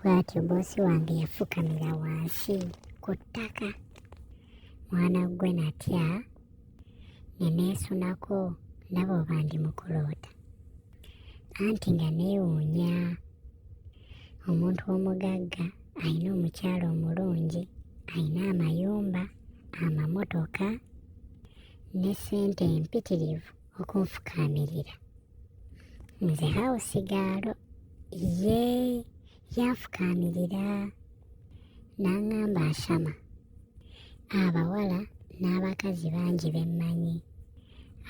bw'atyo boosi wange yafukamira wansi ku ttaka mwana ggwe natya ne neesunako ndaba oba ndi mu kuloota anti nga neewuunya omuntu omugagga alina omukyala omulungi alina amayumba amamotoka ne ssente empitirivu okunfukaamirira nze hawusi gaalo ye yanfukaamirira n'aŋŋamba ashama abawala n'abakazi bangi be mmanyi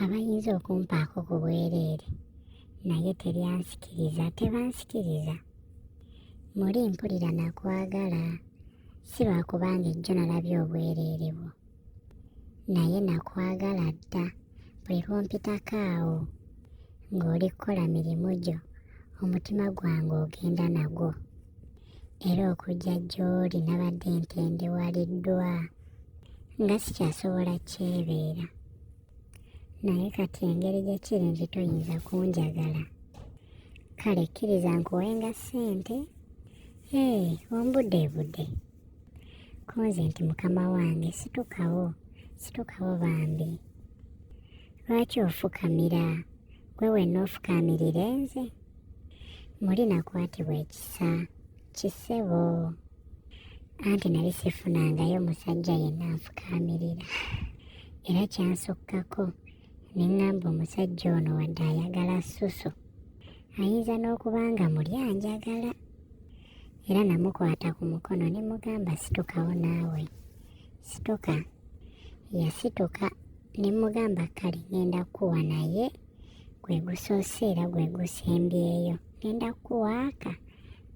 abayinza okumpaako ku bwereere naye teryansikiriza tebansikiriza muli mpulira nakwagala si lwakuba ng'ejjo nalabye obwereere bwo naye nakwagala dda buli lwompitako awo ng'oli kukola mirimu gyo omutima gwange ogenda nagwo era okujja gy'oli nabadde ntendewaliddwa nga sikyasobola kyebeera naye kati engeri gye kiri nti toyinza kunjagala kale kkiriza nkuwenga ssente ee ombudeebude hey, konze nti mukama wange situkawo situkawo bambi lwaki ofukamira gwe wenna ofukamirire nze muli nakwatibwa ekisa kisebo anti nali sifunangayo musajja yenna nfukamirira era kyansukkako ne ŋŋamba omusajja ono wadde ayagala susu ayinza n'okuba nga muli anjagala era namukwata ku mukono ne mugamba situkawo naawe situka yasituka ne mugamba kale ngenda kukuwa naye gwe gusoose era gwe gusembyeyo ngenda kukuwaaka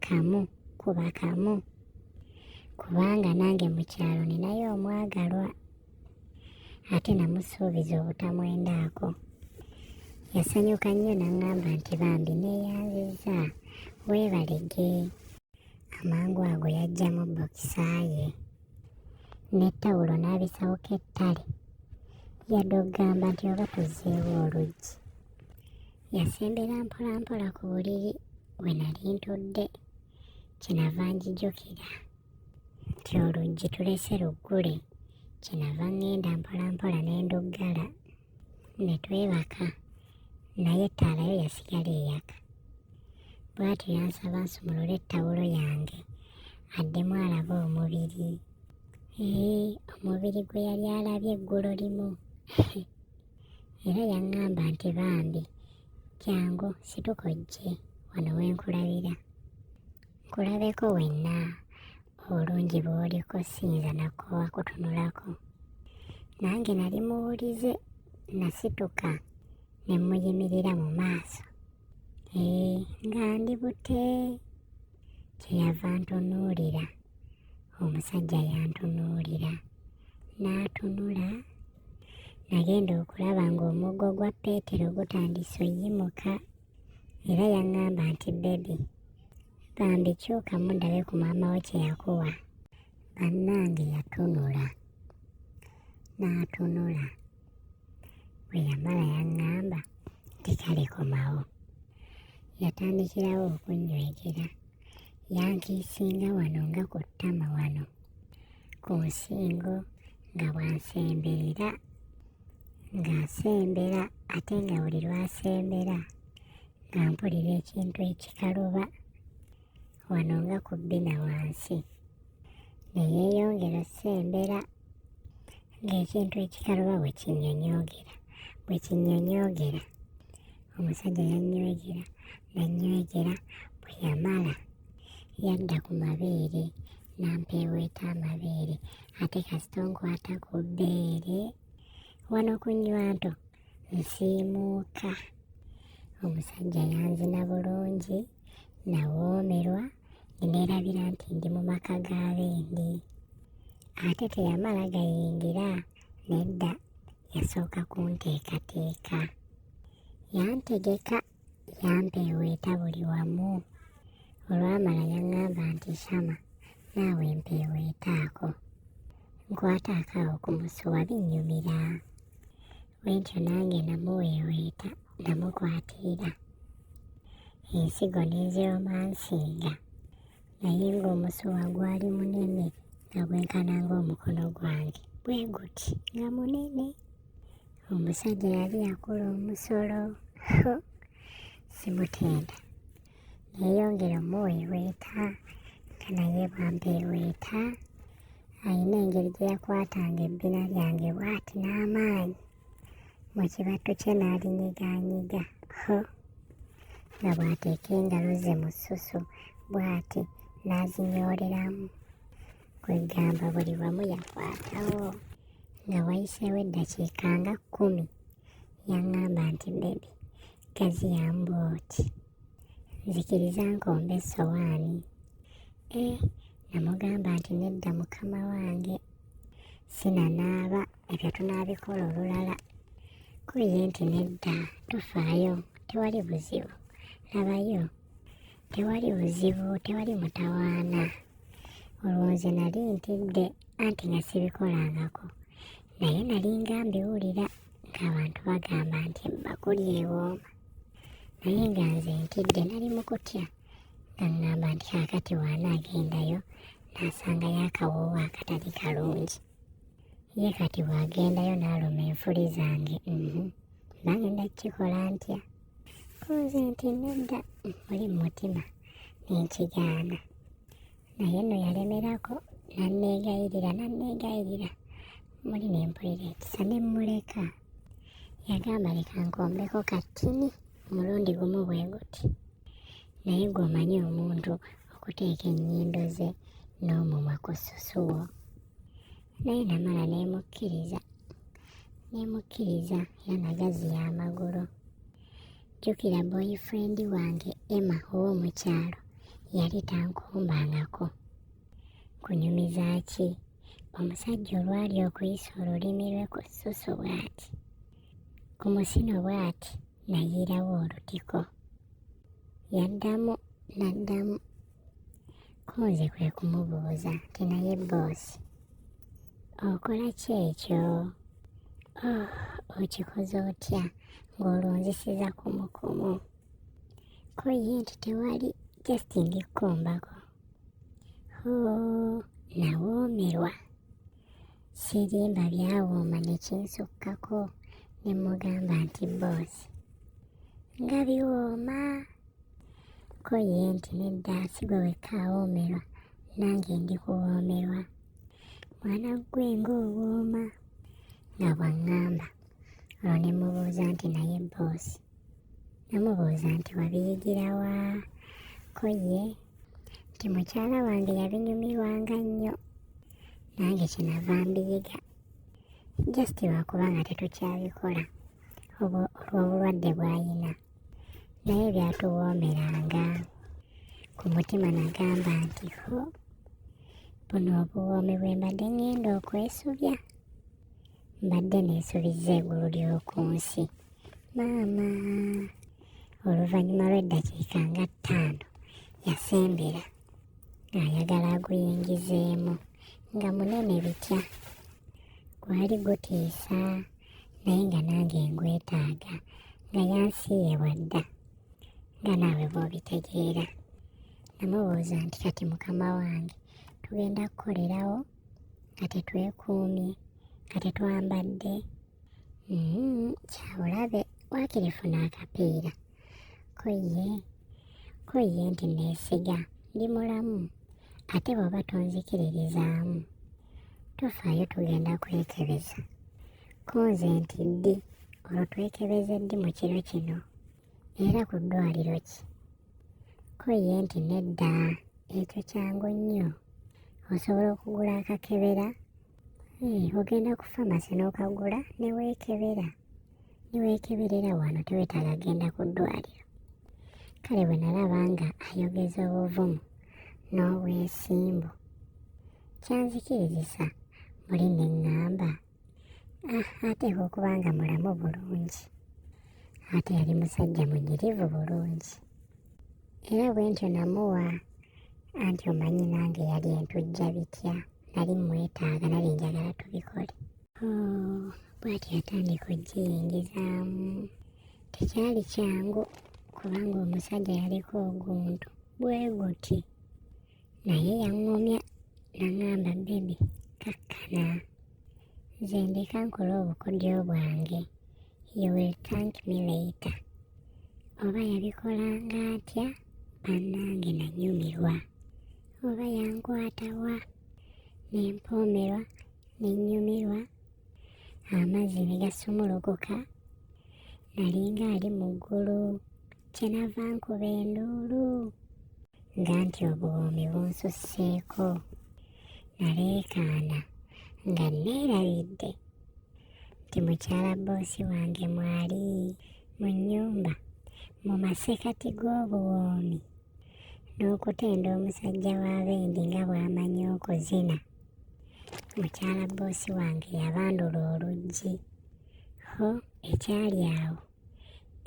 kamu kuba kamu kubanga nange mu kyalo ninayo omwagalwa ate namusuubiza obutamwendaako yasanyuka nnyo n'aŋŋamba nti bambi neeyanzizza weebalege amangu ago yajjamu bokisa ye ne ttawulo n'abisawuka ettale yadde okugamba nti oba tuzzeewo oluggi yasembera mpolampola ku buliri we nali ntudde kyenava njijukira nti oluggi tulese luggule kyenava ŋŋenda mpolampola ne nduggala ne twebaka naye ettaala yo yasigala eyaka bw'atyo yansaba nsumulule ettawulo yange addemu alabe omubiri ee omubiri gwe yali alabye eggulo limu era yaŋŋamba nti bambi jangu situka ojje wano wenkulabira kulabeko wenna obulungi bw'oliko siyinza nakoowa kutunulako nange nali muwulize nasituka ne muyimirira mu maaso ee nga ndi bute kyeyava ntunuulira omusajja yantunuulira n'atunula nagenda okulaba ng'omuggo gwa peetero gutandise oyimuka era yaŋŋamba nti bebi bambi kyuka mudabe ku maama wo kye yakuwa bannange yatunula n'atunula bwe yamala yaŋŋamba nti kale komawo yatandikirawo okunnywegera yankiisinga wano nga ku ttama wano ku nsingo nga bwansemberera ng'asembera ate nga buli lwasembera nga mpulira ekintu ekikaluba wano nga ku bbina wansi ne yeeyongera osembera ng'ekintu ekikaluba bwe kinyonyoogera bwe kinyonyoogera omusajja yannywegera nannywegera bwe yamala yadda ku mabeere nampeeweeta amabeere ate kasita onkwata ku bbeere wano ku nywanto nsiimuuka omusajja yanzina bulungi nawoomerwa neneerabira nti ndi mu maka ga bendi ate teyamala gayingira nedda yasooka kunteekateeka yantegeka yampa eweeta buli wamu olwamala yaŋŋamba nti shama naawe mpa eweetaako nkwata akaawo ku musuwa binnyumira bwentyo nange namuwa eweeta namukwatirira ensigo n'eziromansinga naye ng'omusuwa gwali munene nga gwenkana ng'omukono gwange bwe guti nga munene omusajja yali yakola omusolo simutenda yeyongera omuweeweeta nga naye bwampeeweeta alina engeri gye yakwatanga ebbina lyange bwati n'amaanyi mu kibatto kye n'alinyiganyiga ho nga bw'ateeka engalo ze mu ssusu bw'ati n'azinyooleramu kwegamba buli wamu yakwatawo nga wayiseewo eddakiika nga kkumi yaŋŋamba nti bebi gazi yambu oti nzikiriza nkomba essowaani e eh, namugamba nti nedda mukama wange sinanaaba ebyo tunaabikola olulala kuye nti nedda tufaayo tewali buzibu labayo tewali buzibu tewali mutawaana olwo nze nali ntidde anti nga sibikolangako naye nali nga mbiwulira ng'abantu bagamba nti ebbakuli ewooma naye nga nze ntidde nali mu kutya nga ŋŋamba nti kaakati waana agendayo n'asanga yakawoowo akatali kalungi ye kati bw'agendayo n'aluma enfuli zange mhm. bagenda kukikola ntya nze nti nedda muli mu mutima nenkigaana naye no yalemerako nanneegayirira nanneegayirira muli ne mpulira ekisa ne mmuleka yagamba leka nkombeko kattini omulundi gumu bwe guti naye gw'omanyi omuntu okuteeka ennyindo ze n'omumwa ku ssusuwo naye namala nemukkiriza nemukkiriza era nagaziya amagulu jjukira boyfriend wange emma ow'omukyalo yali tankumbangako kunyumiza ki omusajja olwali okuyisa olulimi lwe ku ssusu bw'ati ku musino bw'ati nayiirawo olutiko yaddamu n'addamu Kunze kwe kumubuuza nti naye bboosi okola ki ekyo? Oh, okikoze otya ng'olunzisiza kumukumu? Ko ye nti tewali just ngikkumbako. Hoo, nawoomerwa. Sirimba byawooma ne kinsukkako ne mugamba nti bboosi nga biwooma. ko ye nti nedda si gwe wekka awoomerwa nange ndi kuwoomerwa mwana ggwe ng'owooma nga bw'aŋŋamba olwo ne mubuuza nti naye bboosi namubuuza nti wabiyigira wa ko ye nti mukyala wange yabinyumirwanga nnyo nange kyenava mbiyiga just lwakuba nga tetukyabikola olw'obulwadde bw'ayina naye byatuwoomeranga ku mutima nagamba nti ho buno obuwoomi bwe mbadde ngenda okwesubya mbadde neesubiza egulu ly'oku nsi maama oluvannyuma lw'eddakiika nga ttaano yasembera ng'ayagala aguyingizeemu nga munene bitya gwali gutiisa naye nga nange ngwetaaga nga yansiiye bwadda nga naawe bw'obitegeera namubuuza nti kati mukama wange tugenda kukolerawo nga tetwekuumye nga tetwambadde mm-hmm, kyabulabe wakirifuna akapiira ko ye ko ye nti neesiga ndi mulamu ate bw'oba tonzikiririzaamu tofaayo tugenda kwekebeza ko nze nti ddi olwo twekebeze ddi mu kiro kino era ku ddwaliro ki ko ye nti nedda ekyo kyangu nnyo osobola okugula akakebera eh, ogenda ku famasi n'okagula ne weekebera neweekeberera wano tewetaaga genda ku ddwaliro kale bwe nalaba nga ayogeza obuvumu n'obwesimbu kyanzikirizisa muli ne ŋŋamba ah, ateeka okuba nga mulamu bulungi ate yali musajja munyirivu bulungi era bwe ntyo namuwa anti omanyi nange yali entujja bitya nali mwetaaga nali njagala tubikole bwati yatandika okugiyingizaamu tekyali kyangu kubanga omusajja yaliko oguntu bwe guti naye yaŋŋumya naŋamba bebi kakkana nze ndeka nkole obukodyo bwange you will thank me later oba yabikolanga atya bannange nanyumirwa oba yankwatawa ne mpoomerwa ne nnyumirwa amazzi ne gasumulukuka nalinga ali mu ggulu kyenava nkuba enduulu nga nti obuwoomi bunsusseeko naleekaana nga neerabidde nti mukyala boosi wange mwali mu nnyumba mu masekati g'obuwoomi n'okutenda omusajja wa bendi nga bw'amanyi okuzina mukyala bboosi wange yabandula oluggi ho ekyali awo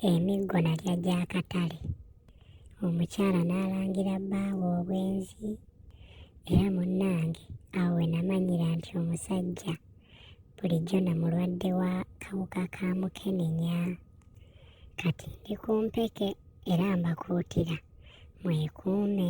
emiggo nalya gy'akatale omukyala n'alangira bbaawe obwenzi era munnange awo we namanyira nti omusajja bulijjo na mulwadde wa kawuka ka mukenenya kati ndi ku mpeke era mbakuutira mwekuume